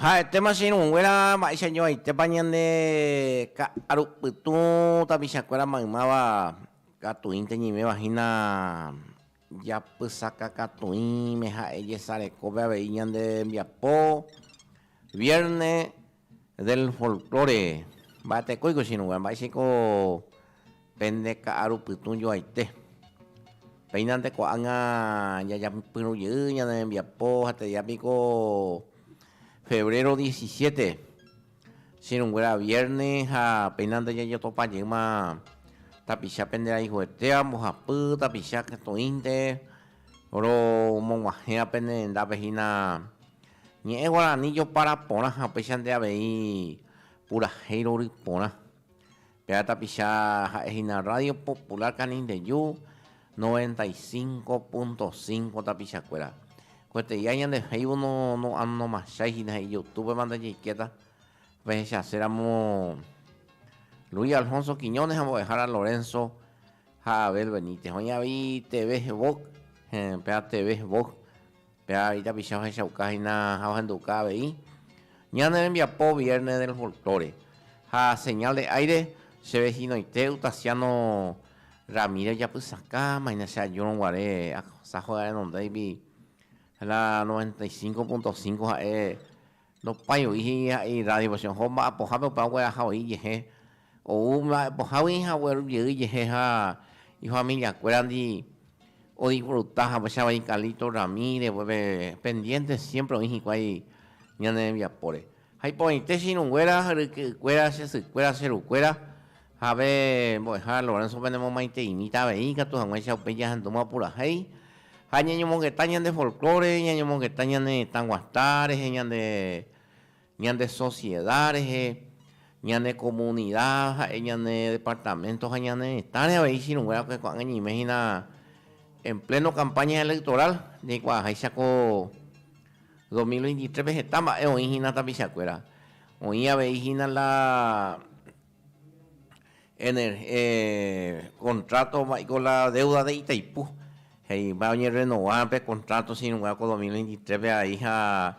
Ha'etéma che irũnguéra mba'éicha joaitépa ñande ka'aru pytũ tapichakuéra maymáva katuínte ñiméva hína Japysakakatũime ha'e jesarekópe avei ñande rembiapo Vierne del Folklore. Mba'etekóiko ichirũngue, mba'éichaiko pende ka'aru pytũ joaite. Péina nde ko'ág̃a jajapyrũ jey ñande rembiapo, ha'etéiapiko febrero diecisiete. Sirunguéra vierne ha péina ndajajatopa jeýma tapicha pende rayhuetéva mbohapy tapicha ketoínte romoguahẽva pende rendápe hína ñe'ẽ guarani jopara porã ha upéichante avei purahéi rory porã. Péva tapicha ha'e hína Radio Popular Canindeju noventa y cinco punto cinco tapichakuéra. Kueteia ñande Facebook no no anomachái hína he'i YouTube ma ndajeikéta pehechaséramo Luis Alfonso Quiñones ha mbo'ehára Lorenzo ha Abel Benítez. Oĩ avei TV Vok, eh, péva TV Vok Péva itapicha ohechauka hína ha ohenduka avei Ñane rembiapo Viernes del Folklore ha Señal de Aire, che vehínoite Utasiano Ramírez japysaka maína che ajúrõ guare asajo renondéigui la 95.5 ha'e Nopái oĩ he'i ha'e irrádie pasiõ ho mba'e pohápe upéva ogueraha oĩ jehe, ou mba'e pohágui ha ogueru jey jehe ha ifamilia kuérandi odisfruta hapecha vai Carlito Ramírez pe pendiente siempre oĩ hikuái ñane rembiapóre. Ha iporãite che irũ nguéra, ryke'y kuéra, che sy kuéra, che ru kuéra ha pe mbo'ehára Lorenzo penemomaiteimíta avei ikatu haguẽicha upéi jahendúma purahéi Ha ñañomongeta ñande folklore, ñañomongeta ñane retã guata rehe, ñande, ñande socieda rehe, ñane komunida ha'e ñane departamento ha ñane retãre avei chirũnguérako ko'ág̃a ñaime hína en pleno campaña electoral, jaikuaaháicha ko dos mil veintitréspe heta mba'e oĩ hína tapichakuéra. Oĩ avei hína la Kontráto mba'éiko la déuda de Itaipú, he'ípa oñerrenova pe kontráto che irũnguéra ko dos mil veintitrépe aveiha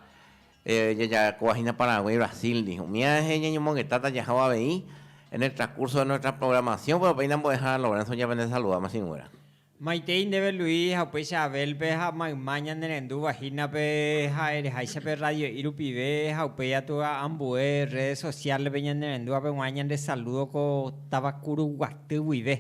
jajarekovahína Paraguay, Brasil ndive. Umi añetehápe ñañomongetáta jajávo avei en el transcurso de nuestra programación, péro péina mbo'ehára Lorenzo ñapendesaludáma che irũnguéra. Maitei ndéve Luis ha upéicha Abel-pe ha mayma ñanerendúva hínape ha ereháicha pe radio'i rupive ha upéi atua ambue redes sociales-pe ñanerendúvape g̃uarã ñande saludo ko Tavacuruguaty guive.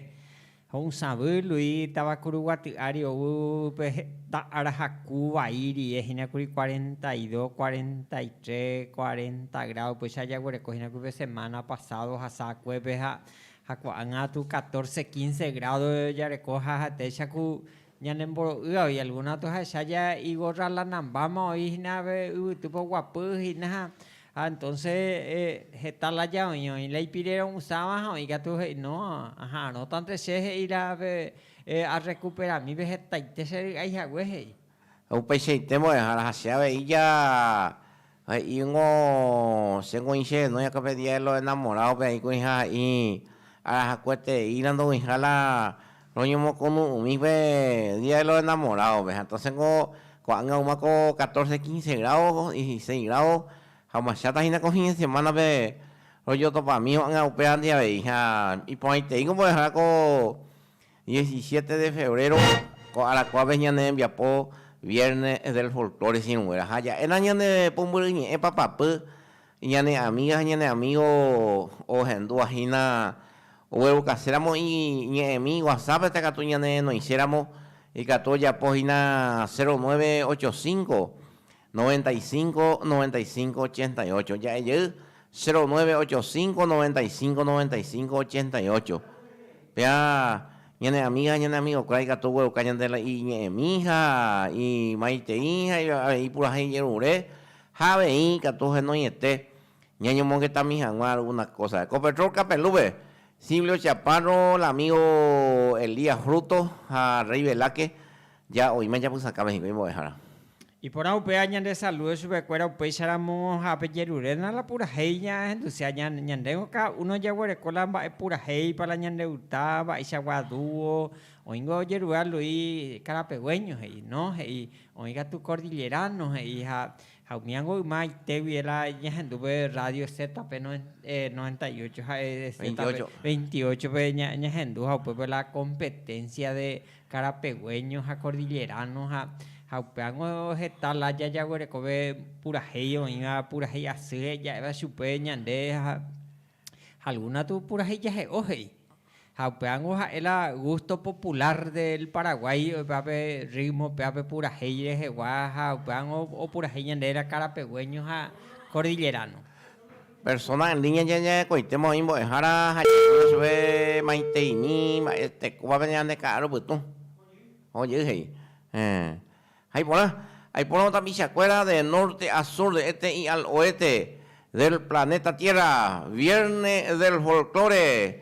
Ho'usãvy Luis Tavacuruguaty ári ou pe heta ára haku vai rie hína kuri cuarenta y dos, cuarenta y tres, cuarenta grado upéicha jaguereko hína kuri pe semana pasado hasakuépe ha Ha ko'ág̃a tu catorce, quince grádo jareko ha hatéicha ku ñanemboro'ýva oi algúna atohecha ja igorra lanambáma oi hína pe yvytýpe oguapy hína ha entonce heta la ja oĩ, oĩ la ipire ro'usãva ha oĩ katu he'i no, aha'arõtante che he'i la pe arrecuperamí pe hetaite che ry'ái hague he'i. Ha upeichaite mbo'ehára ha che avei ja He'íngo, Che koĩ che renói akape día de los enamorados pe aĩ koĩha ha'i arahakueteína ndoguĩha la roñomokonu'ũmi pe día de los enamorados pe ha entonces ko ko'ág̃a ouma ko catorce, quince grado, dieciseis grado ha omachata hína ko fin de semana pe rojotopami ko'ág̃a upévandive avei ha iporãiteíngo mbo'ehára ko Diecisiete de febrero ko arakuápe ñane rembiapo vierne del folklore sirũnguéra ha ja'éna ñane pumbyry ñe'ẽ papapy ñane amiga ha ñane amigo ohendúva hína oguerukase ramo iñe'ẽmi whatsapp heta katu ñane noise ramo ikatu ojapo hína cero nueve ocho cinco Noventa y cinco, noventa y cinco, ochenta y ocho, ja'e jey, cero nueve ocho cinco, noventa y cinco, noventa y cinco, ochenta y ocho. Péva ñane amiga ha ñane amigokue ikatu ogueruka ñande la iñe'ẽmi ha imaitei ha avei ipurahéi ijerure ha avei ikatu henoiete ñañomongetami hag̃ua alguna cosa. Ko Petrol Capelúpe, Silvio Chaparro, la amigo Elías Frutos ha Rey Velázquez Ja oime japysakáme hikuái mbo'ehára. Iporã upéva ñande salude chupekuéra upéicha ramo ha pe jeruréna la purahéi ña ahendusi ha ña ñandéngo cada uno jaguereko la mba'e purahéipa la ñande uta mba'eichagua dúo oĩngo ojerure alui karapeguéño he'i no he'i oĩ katu kordillerano he'i ha ha umíango yma aitégui e la ñahendu pe rrádio zeta pe noven noventa y ocho ha'e zeta pe veintiocho pe ña ñahendu ha upépe la kompeténsia de Karapegueño ha Kordillerano ha ha upévango heta lája jaguerekove purahéi oĩva purahéi asýre ja'éva chupe ñande ha alguna tu purahéi jahe'o he'i. Ha upévango ha'e la gusto popular del Paraguay oĩvape ritmo pévape purahéi rehegua ha upévango opurahéi ñande la Karapegueño ha Kordillerano. Persóna en línea ñañe'ẽkõitéma oĩ mbo'ehára ha ñañe'ẽ chupe maiteimi mba'e tekóvape ñande ka'arõ pytũ. Oho jey he'i, Héẽ, ha iporã. Aipórõ tapichakuéra de norte a sur de este y al oeste del planeta Tierra, Viernes del Folklore,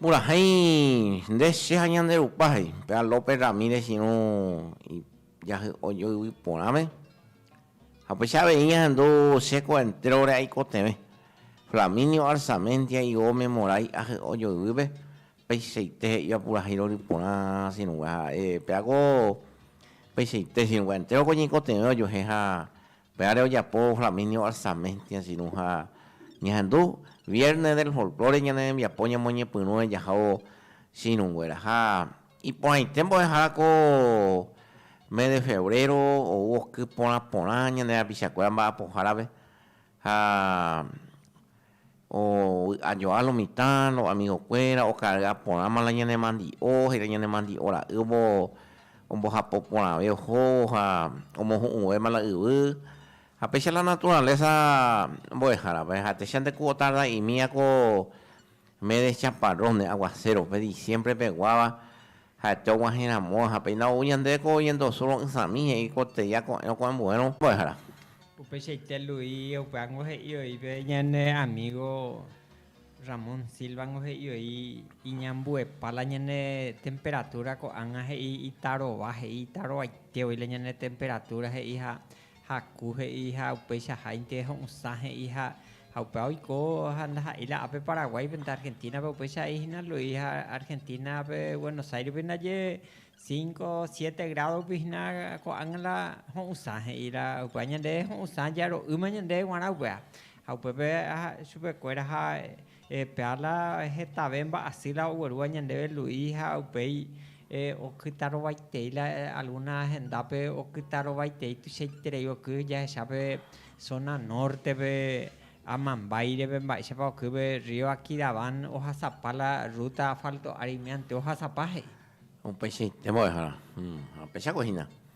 Purahéi nde che ha ñande rupa, he'i péva López Ramírez irũ jahy'ojo yvy porãme. Ha upéicha avei ahendu chéko entrore aikotevẽ. Flaminio Arzamendi aigo memorái ahy'ojo yvýpe, peichaite he'íva purahéi rory porã sirũngue. Ha'e pévako peichaite sirũngue, entréroko ñaikotevẽ ojuehe ha Pya're ojapo Flaminio Arzamentia Giroux ha ñahendu Viernes del Folklore ñane rembiapo ñamoñepyrũre jahávo chiruguéra ha iporãite mbo'ehára ko mes de febrero ou oky porã porã ñane rapichakuéra mba'apohárape ha Ovy'ajoa lo mitã, lo amigokuéra, okary'a porãma la ñanemandi'o, heta ñanemandi'o ra'y ombo, ombohapo porãve ohóvo ha omohu'ũvéma la yvy. Ha péicha la naturaleza mbo'ehárape, háicha nde ku otarda'imíva ko mes de chaparros, ne aguacero-pe, diciembre peguáva. Ha'ete oguahẽ ramo, ha péina ou ñandéve ko oñendosu ro'ysãmi, he'i ko teia ko'ẽrõ ko ambuérõ mbo'ehára. Upeichaite Luis Euphango he'i oĩve ñane amígo Ramón Silvango he'i oĩ iñambuepa la ñane temperatúra ko'ág̃a he'i itarova, he'i itarovaite oĩ la ñane temperatúra he'i ha Haku he'i ha upeichaháinte ho'ysã he'i ha ha upéva oiko ha ndaha'éi la ápe Paraguáipe nde Argentínape upéicha he'i hína Luis ha Argentínape Buenos Airespe ndaje cinco siete grádope hína ko'ág̃a la ho'ysã he'i la upéva ñande ho'ysã jaro'ýma ñande g̃uarã upéva ha upépe chupekuéra ha Pearla hetave mba'asy la oguerúva ñandéve Luis ha upéi okytarovaitei la alguna hendápe okytarovaitei tuichaiterei oky jahecha pe zona norte-pe amambáireve mba'éichapa okýpe Río Aquidaván ohasapa la ruta asfalto ári miante'o ohasapa he'i. Upeichaite mbo'ehára, ha pechagua hína.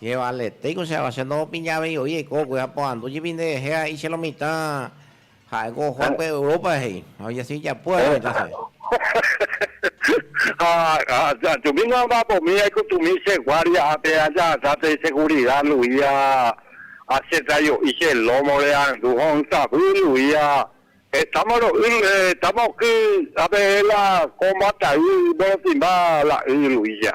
Che valetéi ko che awa, che ndohopiña avei oĩ eiko ogue ha porandu jepi nde rehe a'i che lo mitã ha'e ko Juan pe Europa he'i, ha oñesĩ ijapúva che lo mitã che. Ha ajumi no amba'apomi aikutumi che guardia ápe ajahasa pe segurida luía ha che trajo'i che lómo re arandu ho'ysãvy luía hetáma ro'y, hetáma oky ápe la ko mbata'y morotĩmba la y luía.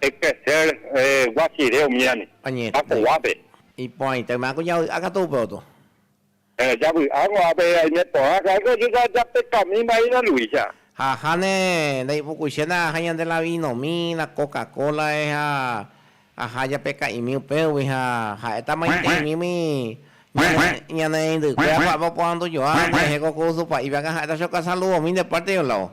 Ekrecer guasire umíami. Añete. Iporãite oime águi javy'a katu upe oto. Javy'águi ápe aime porã. Ha'e ko ojuka japekami mba'éicha Luisa. Ha Jane ndaipukuichéna ha ñande la vinomi, la coca cola eh ha aja japeka'imi upégui ha ha'éta maitei'mígui ñane reindykuéra ko'ápe oporandujua, por ehéko ko Usupa'i Bianca ha'éta che okasaludomi nde pártepe lao.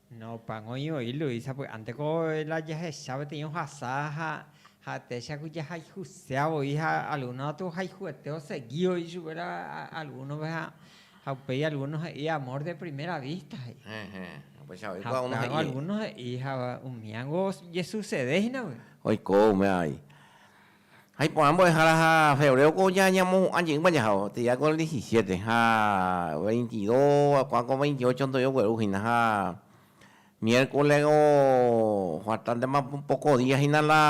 Nopango oĩvoi Luisa py'ánte ko la jahecha peteĩ ohasa ha ha'etéicha ku jahayhusea voi ha alguno katu ohayhuete osegi voi chupe la algunope ha upéi alguno he'i amor de primera vista he'i. Ehe. Upéicha voi ko ha alguno he'i ha umíango jesusede hína voi. Oiko ume avei. Ha iporã mbo'ehára ha febréoko ñamohu'ã jeýma jahávo, térã ko el diecisiete, ha veintidó, kuã ko veintiocho ndo'i ogueru hína, ha miérkole ofartántema poko día hína la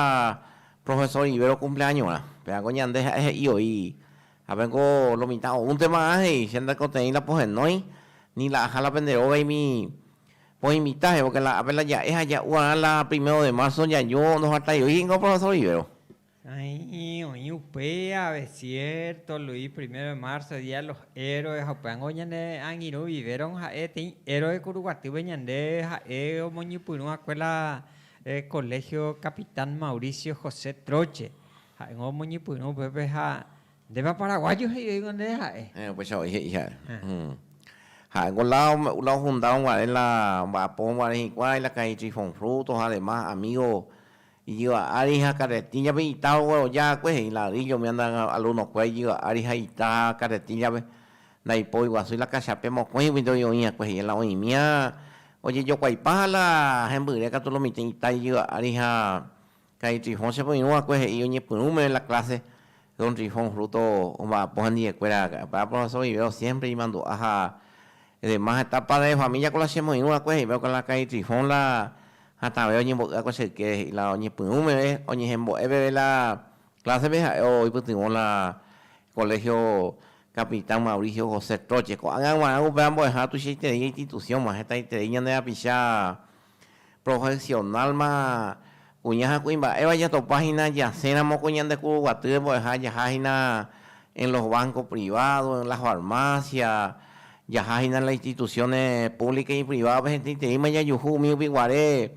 profesór Rivero kumpleañorã. Péva ko ñande ha'e he'i voi, Ápe niko lo mitã oúnte va'ã, he'i, che ndaikoteĩ la pohenói, ni la aja la pende rógaimi Oĩ mitã evo que la ápe la ja'e ha ja'u arã la primero de marzo jajo ndohataiói hína profesor vivero. Aĩ'i oĩ upe ave cierto Luis primero de marzo día de los héroes ha upévango ñane angirũ vivero ha'e teĩ héroe kuruguatýpe ñande ha'e omoñypyrũ va'ekue la colegio capitán Mauricio José Troche ha'éngo omoñypyrũ upépe ha Ndépa paraguayo he'ivéigo nde ha'e. Héẽ, upéicha voi he'i ha'e. Ha'e ko la ofundado guare la omba'apo guare hikuái la calle Trifón Frutos ha demás amigo ijyva ári ha carretilla-pe ita ogueroja akue he'i ladrillo umi alumno-kue ijyva ári ha ita carretilla-pe ndaipo oiguasúi la cachape mokõiguinte voi oĩ akue he'i la oĩmía ojejokuaipa ha la hembyre katu lo mitĩ ita ijyva ári ha Ka'i Trifón che poirũ va'ekue he'i oñepyrũ meve la clase Don Trifón fruto omba'apo hendie kuéra para profesor Vivero siempre imandu'a ha demás heta padre de familia ko la che moirũ va'ekue he'i va'ekue la Ka'i Trifón la hatãve oñembo'y va'ekue che yke he'i la oñepyrũ meve oñehembo'e peve la clase pe ha'e oipytyvõ la colegio Capitán Mauricio José Troche ko'ág̃a g̃uarã upéva mbo'eha tuichaiterei institución g̃uarã hetaiterei ñande rapicha profesional-ma kuña ha kuimba'éva jatopa hína jaséramo ko ñande kuruguatýre mbo'eha jaha hína en los bancos privados, en las farmacias, jaha hína en las instituciones públicas y privadas-pe hetaiteíma jajuhu umi rupi guare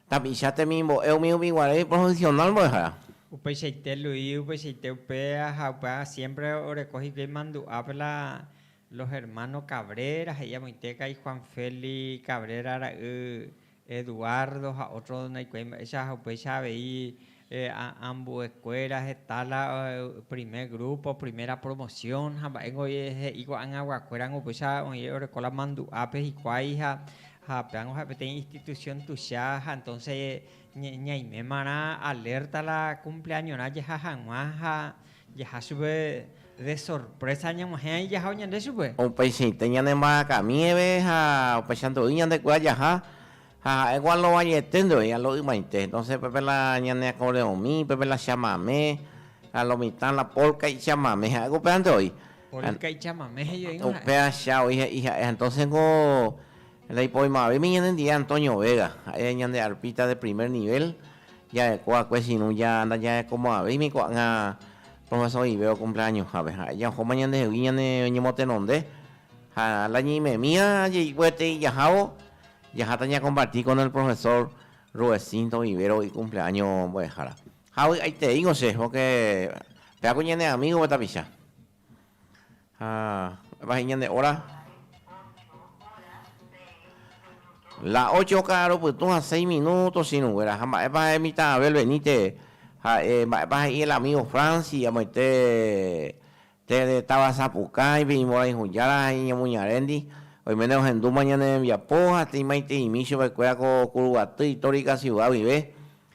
tapicha temimbo'e umi rupi guare iprofesional mbo'ehára. Upeichaite Luis, upeichaite upéva ha upéva siempre oreko hikuái mandu'ápe la Los hermanos Cabrera he'i amoite kai Juan Feli Cabrera ra'y Eduardo ha otro ndaikuaái mba'éicha ha upéicha avei ambue kuéra heta la primer grupo, primera promoción ha mba'éngo he'i ko'agagua kuéragui upéicha oĩ oreko la mandu'ápe hikuái ha péango ha'e peteĩ institución tuicha ha entonces ñaimémarã alerta la cumpleañorã jehahagua ha Jaha chupe de sorprésa ñag̃uahẽ aĩ jahao ñande chupe. Upeichaite ñanembaracamíeve ha upeicha ndo'y ñandekuéra jaha, ha ha'e ko alovañete ndo'y, alo'ymaite. Entonces pépe la ñane acordeonmi, pépe la chamamé, ha lo mitã la polka ichamamé, ha'e ko upéva ndo'y. Polka ichamamé jejoíngo ha'e. Upéacha oĩ he'i ha'e. Ha entonces niko la ipoymavéimi ñanendie Antonio Vega, ha'e ñande arpista de primer nivel. Jaheko akue chirũ ja ndajahekomo'ãvéimi ko'ág̃a Profesor Ive okumplañohápe. Ha'e jahóma ñandehegui ñane ñemotenonde ha la ñeimemíva jeikueetei jahávo, jaháta ñakomparti kon el Profesor Ruecinto Ivero oikumpleaño mbo'ehára. Ha vy'aiteíngo che, pórke péako ñane amígope tapicha. Ha vai ñane óra. La ocho ka'arõ pytũ ha seis minúto chinukuéra. Ha mba'épa ha'e mitã Abel Benítez ha'e, mba'épa he'i el amígo Francis amoite tee de táva Sapukãipe iñmorãihujára ha iñemoñaréndi, oiméne ohendúma ñane rembiapo ha teimaiteimi chupekuéra ko Kuruguaty itórica siuda guive.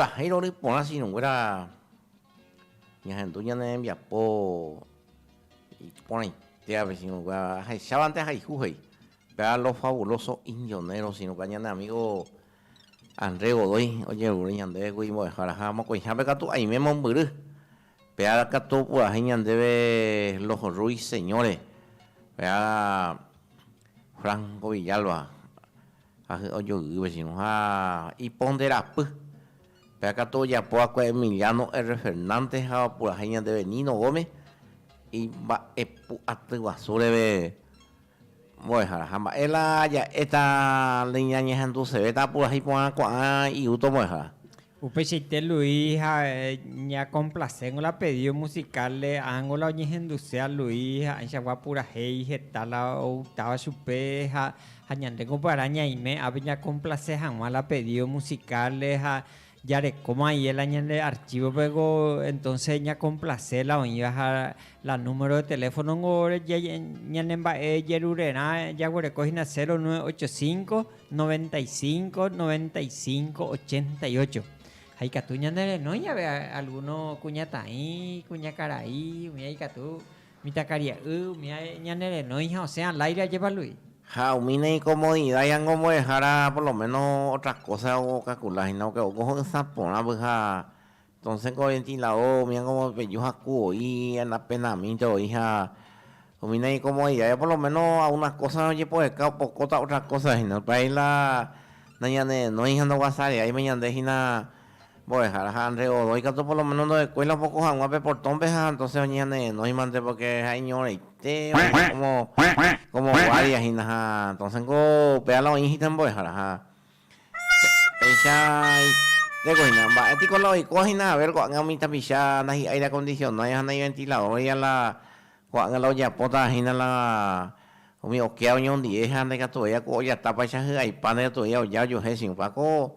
Purahéi rory porã sinõnguéra ñahendu ñane rembiapo iporãitévape sinõnguéra ahecha vante haihu he'i péva los fabulosos injoneros sinõnguéra ñane amigo André Godoy ojerure ñandéve kuri mbo'eháraha mokõihápe katu aime mombyry. Pe ára katu opurahéi ñandéve Los Ruiseñores, pe ára Franco Villalba ahy ojoy'y vecino ha Iponderapy. Péa katu ojapo va'ekue Emiliano R. Fernández ha opurahéi ñandéve Nino Gómez imba'epu'aty guasu reve. Mbo'ehára. Ha mba'e la ja'éta la iñañehendusevéta apurahéi porã ko'ã iúta ombo'ehára. Upeichaite Luis ha ñakomplaséngo la pedído musical-re, ángo la oñehenduse a Luis ha'ãichagua apurahéi heta la outáva chupe ha ha ñandéko upearã ñaime ápe ñakomplase hag̃ua la pedído musical-re ha Jarekóma aie la ñande archívope ko entónse ñakomplase la oĩva ha la número de teléfono niko ñane mba'e jerurerã jaguereko hína 0985 95 95 88. Ha ikatu ñande renói jave algúno kuñataĩ, kuñakarai, umi aikatu Mitãkaria'y umi ae ñane renói ha osẽ aláire ajevalu'i. Ha umi ne incomodidad yango mbo'ehára por lo menos otra cosa ocalcula hína porque ogo ho'ysã porã vyha entonces ko ventilador umi angovo peju haku oĩ apenaamínte oĩ ha umi ne incomodidad ya por lo menos a una cosa ojepoheka opokóta otra cosa hína, por ahí la nañanerenói ha ndoguasareáima ñande hína. Mbo'ehára ha André Godoy katu por lo menos ndohekói la opoko hag̃ua pe portón-pe ha entonces oñeñanenóimante porque ha'e iñorãite como, como guardia hína ha entonces niko upéva la oĩ hína mbo'ehára ha péicha itéko hína. Mba'e piko la oiko hína haber ko'ág̃a umi tapicha nai aire acondicionáiva ha nai ventilador-iva la ko'ág̃a la ojapótava hína la umi okea oñondive ha ndaikatuvéi la ku ojatápaicha hy'aipa ndaikatuvéi la oja ojuehe chiũpa ko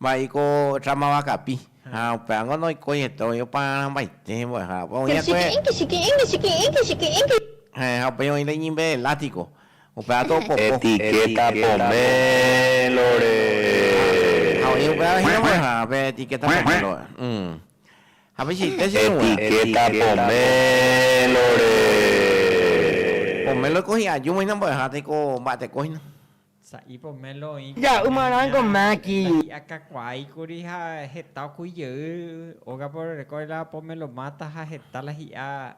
Mba'éiko tramava kapi, ha upévango noikoiete oĩ opa rãmbaite hembo'ehárape. Oĩ va'ekue. Ha upéi oĩ reñimbe elátiko, upéva topopo. Etiqueta poménlore. Ha oĩ upéva hína mbo'ehárape etiqueta poménlore. Ha pechiite che irũgua. Etiqueta poménlore. Poménlore ko hi'ajúma hína mbo'ehára, teiko mba'eteko hína. Sa'i pomelo oĩ kuimba'e ña ndahi'a kakuaáikuri ha heta okúi jey ógape orerekóre la pomelo máta ha heta la hi'a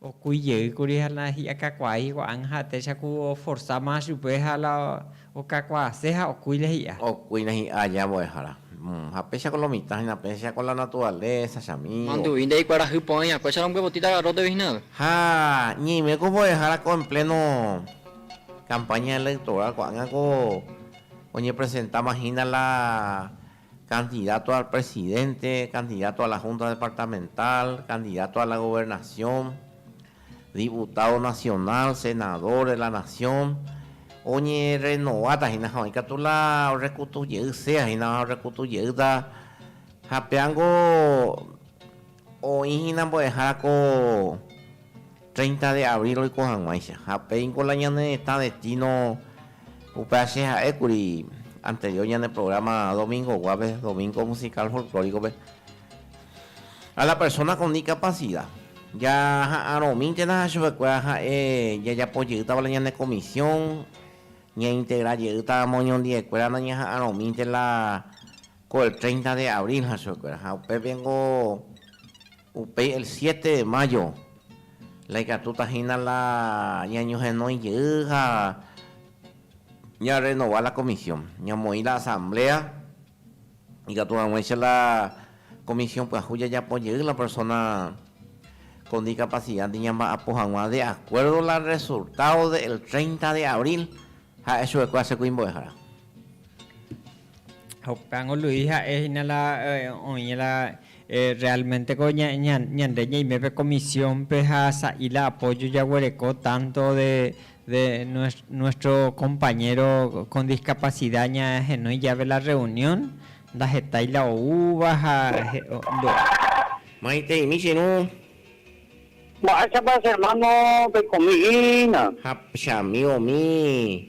okúi jeýkuri ha la hi'a kakuaái hikuaág̃a ha'etéicha ku oforsa más chupe ha la okakuaase ha okúi la hi'a. Okúi la hi'a aja mbo'ehára. Ha péichako lo mitã hína péicha ko la naturaleza che amigo. Mandu'i ndahikuarahy po'aĩ akuécha rombyepotí tagarróte vichina. Ha ñeime ko mbo'ehára ko en pleno. Campaña electoral ko'ág̃a ko oñepresentáma hína la candidato al presidente, candidato a la Junta Departamental, candidato a la Gobernación, diputado nacional, senador de la nación, oñerrenováta hína ha oĩ katu la orrekutu jey, sea hína orrekutu jeýta ha péango Oĩ hína mbo'ehára ko treinta de abril roiko hag̃uáicha, ha upéingo la ñane retã destino upéva che ha'e kuri anterior ñane programa domingoguápe, Domingo Musical Folclórico-pe, a la persona con discapacidad. Jaha'arõmíntena chupe kuéra ha'e jajapo jeýtava la ñane comisión, ña integra jeýta moñondive kuéra nañaha'arõmínte la Ko el treinta de abril ha chuguikuéra, ha upépe niko upéi el siete de mayo la ikatúta hína la ñañohenói jey ha ñarrenova la comisión, ñamoĩ la asamblea ikatu hag̃uáicha la comisión pyahu jajapo jey la persona con discapacidad ndi ñamba'apo hag̃ua de acuerdo la resultado de el treinta de abril, ha'e chuguikuéra che kuimbo'ehára. Hoka'ngo Luis ha'e hína la oĩ la realmente-ko ñande ñaimépe comisión-pe ha sa'i la apoyo jaguereko tanto de nuestro compañero con discapacidad ñahenói jave la reunión, ndahetái la oúva ha ndo'a. Maitei-mi che ru. Mba'éichapa che hermano peikomi hína? Ha che amigo-mi.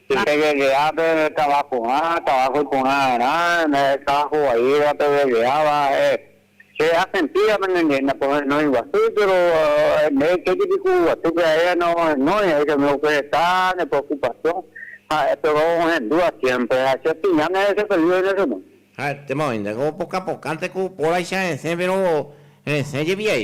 Pe Guelea pe tava pu'ã, tava huiporãrã, ehecha hovaíva pe Gueleáva, ha'e, Che asentía pende ndive ndapohenói guasúi, péro ndéve kéti piku'u guasúpe aíva neohenói, he'i chamigo ojehecha ne preokupasión, ha'e péro ohendúva siémpre, ha che opiña ndéve chepelívaine chugui. Ha'etéma oĩnte ko pokapokãnte ku póraicha resẽ, péro resẽ jepi jey,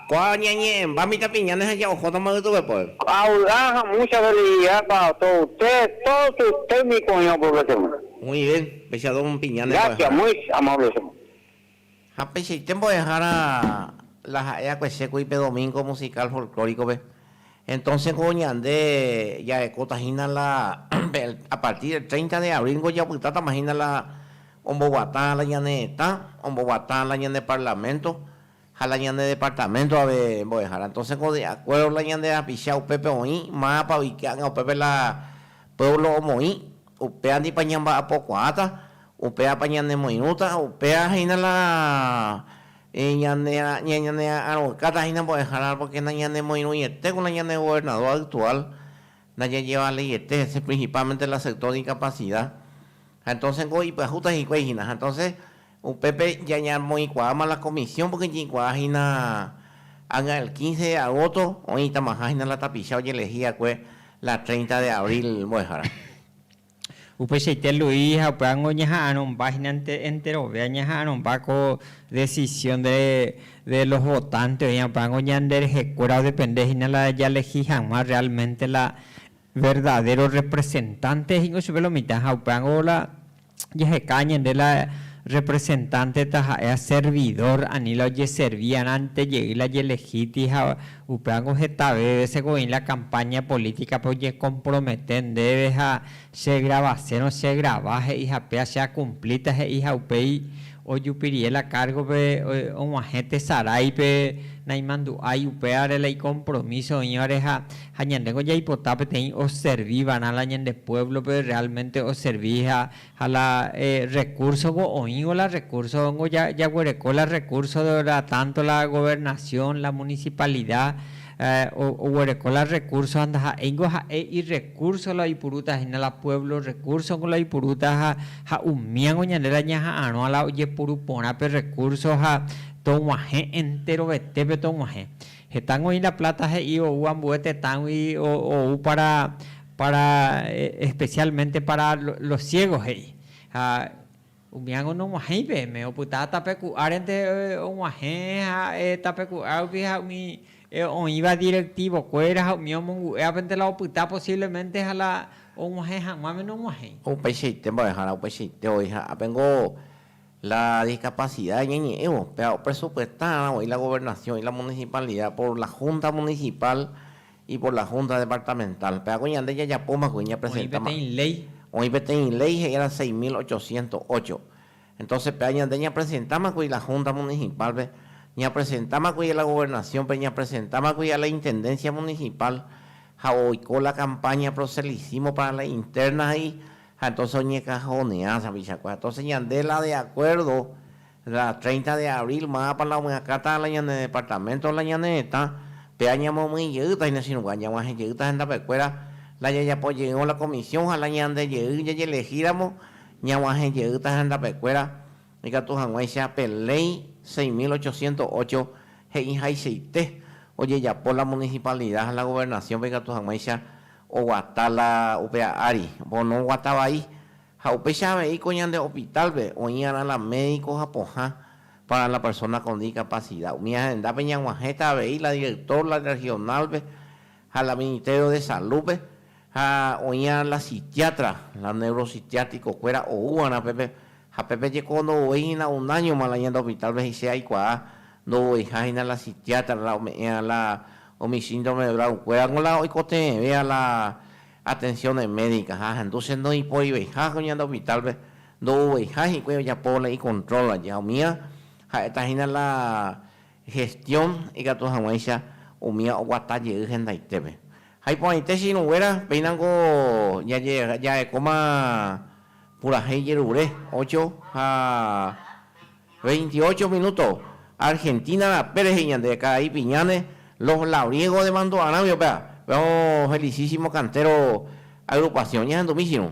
Ko'ã ñañe'ẽmba mitãpiña neha'ja ohóta maytuve poe. Ko'ã vy'a ha mucha veleidadpa toute, todos sus técnicos oĩ oprofesiona. Muy bien, péicha don piña ne Gracias, mbo'ehára. muy amable señor. Ha peichaite mbo'ehára la ha'e akuese kuri pe domingo musical folclórico-pe. Entonces ko ñande jarekóta hína la a partir del treinta de abril ko japytátama hína la omboguatã la ñane retã, omboguatã la ñane parlamento, ha la ñane departamento ave mbo'ehára, entonces ko de acuerdo la ñande rapicha upépe oĩ, mávapa oiké'anga upépe la pueblo omoĩ, upéandipa ñamba'apokuaáta, upévapa ñanemoirũta, upéva hína la ñaneara'arõkáta hína mbo'ehára porque nañanemoirũietéko la ñane gobernador actual Najajevaleiete hese principalmente la sector de incapacidad ha entonces ko ipyahúta hikuái hína ha entonces upépe jañamoĩkuaáma la comisión porque jeikuaa hína ág̃a el 15 de agosto oĩtamaha hína la tapicha ojelehí va'ekue la 30 de abril mbo'ehára. Upeichaite Luis ha upévango ñaha'arõmba hína ente, enterovéa ñaha'arõmba ko decisión de, de los votantes oĩva, upévango ñande rehekuéra odepende hína la jalehi hag̃ua realmente la verdadero representante he'ingo chupe lo mitã, ha upévango la jaheka ñande la representante taha'ea servidor, ani la ojeservi arãntejey la jelehi ti ha Upévango hetave vése ko'ỹ la kampáña polítikape ojekompromete ndéve ha chegravasérõ chegrava he'iha péva che akumplíta he'i ha upéi ojupirie la kárgope og̃uahẽ tesaráipe naimandu'ái upévare la ikompromíso oĩvare ha ñandéngo jaipota peteĩ oservi va'erã la ñande puévlope rreálmente oservi ha Ha la rrekúrsogua oĩvo la rrekúrsongo jaguereko la rrekúrso la tánto la governasión, la munisipalida oguereko la rrekúrso ha ndaha'éingo ha'e irrekúrso la oipurúta hína la puévlo rrekúrsongo la oipurúta ha umíango ñande la ñaha'arõa la ojepuru porã pe rrekúrso ha tog̃uahẽ enterovetépe tog̃uahẽ. Hetángo oĩ la pláta he'i ou ambue tetãgui ou pára Para, especialmente para los ciegos, he'i. Ha umíango noguahẽi peẽme, opyta tape ku'árente oguahẽ ha'e tape ku'a rupi ha umi oĩva directivo kuéra ha umi omongu'e apente la opyta posiblemente ha la oguahẽ haguãme noguahẽi. Upeichaite mbo'ehára, upeichaite voi ha apengo la discapacidad ñañe'ẽvo, péva opresupuestárã voi la gobernación y la municipalidad por la junta municipal Y por la Junta Departamental. Peagua ñande jajapóma kuri ñapresentáma. Oĩ peteĩ léi. Oĩ peteĩ léi he'íva seis mil ochocientos ocho. Entonce peagua ñande ñapresentáma kuri la Junta Municipal-pe, ñapresentáma kuri a la Gobernación-pe, ñapresentáma kuri a la Intendencia Municipal ha oiko la campaña Proselicimo para la Interna he'i ha entonces oñekajoneása pichakue. Entonces ñande la de acuerdo La treinta de abril mávapa la omyakãta la ñane departamento la ñane retã, péva ñamomyĩ jeýta hína chirũgua, ñag̃uahẽ jeýta hendapekuéra, la jajapo jeyvõ la comisión ha la ñande jey jajelehíramo ñag̃uahẽ jeýta hendapekuéra ikatu hag̃uáicha pe Ley seis mil ochocientos ocho he'ihaichaite ojejapo la municipalidad ha la gobernación-pe ikatu hag̃uáicha oguata la upea ári, oponoguata vai. Ha upéicha avei ko ñande opitálpe oĩ'arã la médiko ha pohã pára la persóna kon dikapasida. Umi ahendápe ñag̃uahẽta avei la direktór la rrehionálpe ha la ministério de salúpe ha oĩ'arã la sitiátra la neurositiátrikokuéra oú'arã pépe ha pépe jeko ndouvei hína unáñoma la ñande opitálpe he'ise aikuaa ndouveiha hína la sitiátra la ome'ẽ'arã la umi síndrome de Down-kuéra g̃uarã oikotevẽvéva la Atenciones médicas ha ahendu che ndoiporiveiha ko ñande hospital-pe, ndo'uveiha hikuái ojapo la icontrol aje ha umía ha'éta hína la gestión ikatu hag̃uáicha umía oguata jey hendaitépe. Ha iporãite che irũnguéra, péina niko jahekóma purahéi jerure, ocho ha Veintiocho minúto, Argentina rape rehe ñande karai piñáne Los Labriegos de Mando'arãme upéva. Péva ofelisísimo Cantero Agrupación. Ñahendumíchirõ.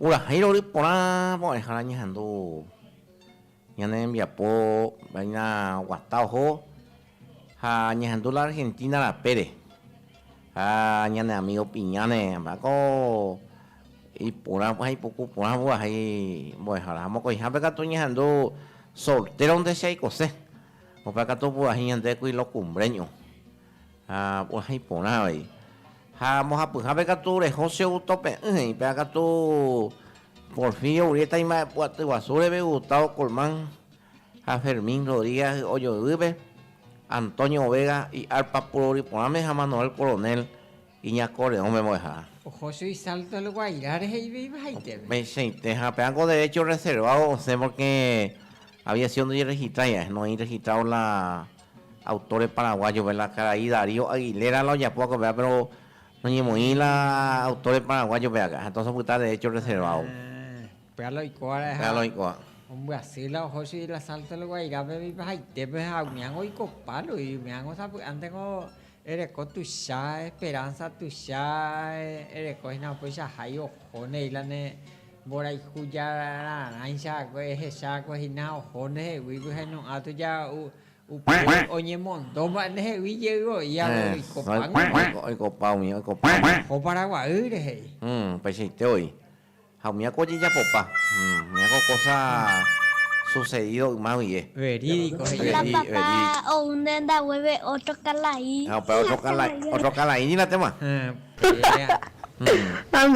Purahéirõ ry porã porãihára ñehendu ñane rembiapo vaina guata oho ha ñehendu la Argentina rapére ha ñane amigo Piñáne mba'éko iporã ha ipuku porã purahéi mbo'ehára ha mokõihápe katu ñehendu soltéronte che aikose. Upéva katu opurahéi ñande ku ilokumbréño ha opurahéi porã avei. Ha mbohapyhápe katu reho che auto pe'ỹ he'i. Upéva katu Porfirio Urrieta imba'epu'aty guasu reve Gustavo Colmán ha Fermín Rodríguez ojoyvýpe, Antonio Vega iarpa puro ori porãme ha Manuel Coronel Iñakõ reõ memo'ẽha. Oho su isalto el Guairá rehe iveiva haiteve. Upeichaite ha péva ko derecho orreservávo osẽ porque aviación ndojerregistra ñae, no oĩ registrado la autores paraguayos-pe, la karai Darío Aguilera la ojapo va'ekue péva pero noñemoĩ la autores paraguayos-pe akã, entonces opyta derecho orreservávo. Ah, péva la oiko va'erãha. Péva la oiko. Ombyasy la oho su isalto el Guairá-pe iveiva haiteve ha umiãngo oiko pálo y umiãngo sapy'ántengo Ereko tuicha esperánsa, tuicha ereko hína upéichaha ohóne íla ne mborayhu jararãicha ehechákue hína oho ndehegui pyhainõ'ã tuja upépe oñemondo mba'e ndehegui jey oĩva oikopágui. Oikopa umi, oikopa umi. Oho Paraguaýre he'i. Upeichaite oĩ. Ha umíva ko ojejapopa, umíva ko kósa susedido yma guie. Verídiko he'i. La papá ou nenda guéve ótro kala'i. Ha upéva ótro kala'i, ótro kala'i ninatéma. Ha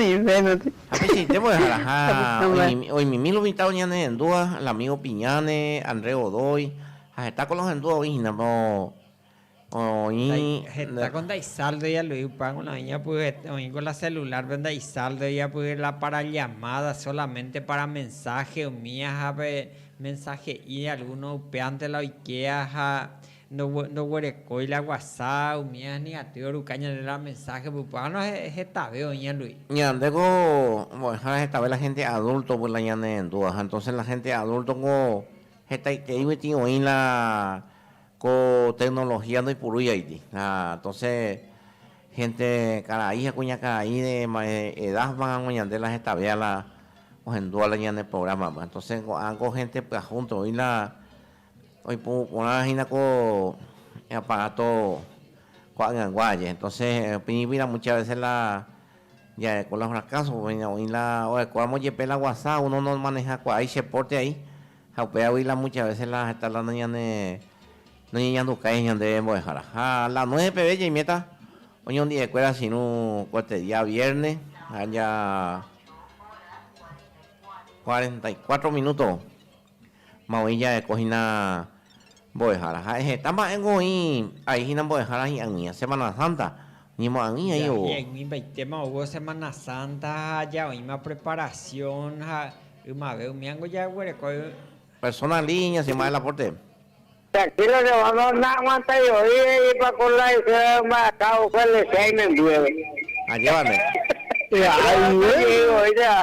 peichaite mbo'eháraha oimimi lo mitã oñanehẽndúva, la amigo Piñane, André Godoy, ha heta ko lo hendúva oĩ hína. Oĩ heta ko ndaisaldo ialui pan, bueno, oĩ ñapyhete, oĩ ko la celular pe ndaisaldo iapy la para llamada solamente para mensaje umi aja pe mensaje'i alguno upévante la oike aja ndoguerekói la whatsapp umi aja ni atýi oruka ñande la mensaje pypág̃uno hetave oĩ ñalui. Ñande ko mbo'ehára hetave la gente adulto pe la ñanendu aja entonce la gente adulto ko hetaiterei koti oĩ la Ko tecnología ndoipurúi aity. Ha entonces gente karai ha kuñakarai de edad mangango ñande la hetave ala ohendúva la ñane programa pe. Entonces ko'ã ko gente pyahúnte oĩ la oipuru porã hína ko aparato ko'ag̃agua aje. Entonces pirĩpi la muchas veces la jaeko la fracaso, oĩ la orekóramo jepe la guasa uno nomaneja kuaái che porte aĩ. Ha upévagui la mucha vese la heta la noñane, noñeñandukái ñandéve mbo'eháraha. La nueve peve jaiméta oñondi'ekuéra chirũ kotete día viérne ha ja cuarenta y cuatro minúto ma oĩ ja'eko hína. Mbo'ehára. Ha'e heta mba'e gõi ai hína Mbo'ehára hi'ag̃ui ha Semana Santa ñemo'ag̃ui ai ou. Hi'ag̃uimbaitéma ou Semana Santa ha aja oĩma preparación ha ymave umíango jaguerekói. Persona línea si mba'e la porte. Tranquilo che guándo na'aguantái oĩ he'ipa ko la isýrape mba'aka ou Felicia'i membyére. Ajévare. Yvága oje'y voi che ha.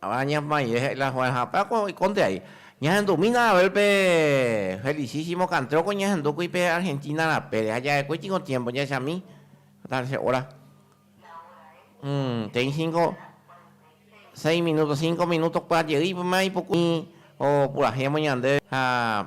Ha ñamaire he'i la Juan, ha upéva ko oikonte ai. Ñahendumína Abel pe felicísimo cantreo ko ñahendúkuri pe Argentina rapére, ha ja'ekue tiko tiempo jahechami hasta che hora. Te'i cinco, seis minutos, cinco minutos kuaa jey ma ipuku umi opurahéma ñandéve ha.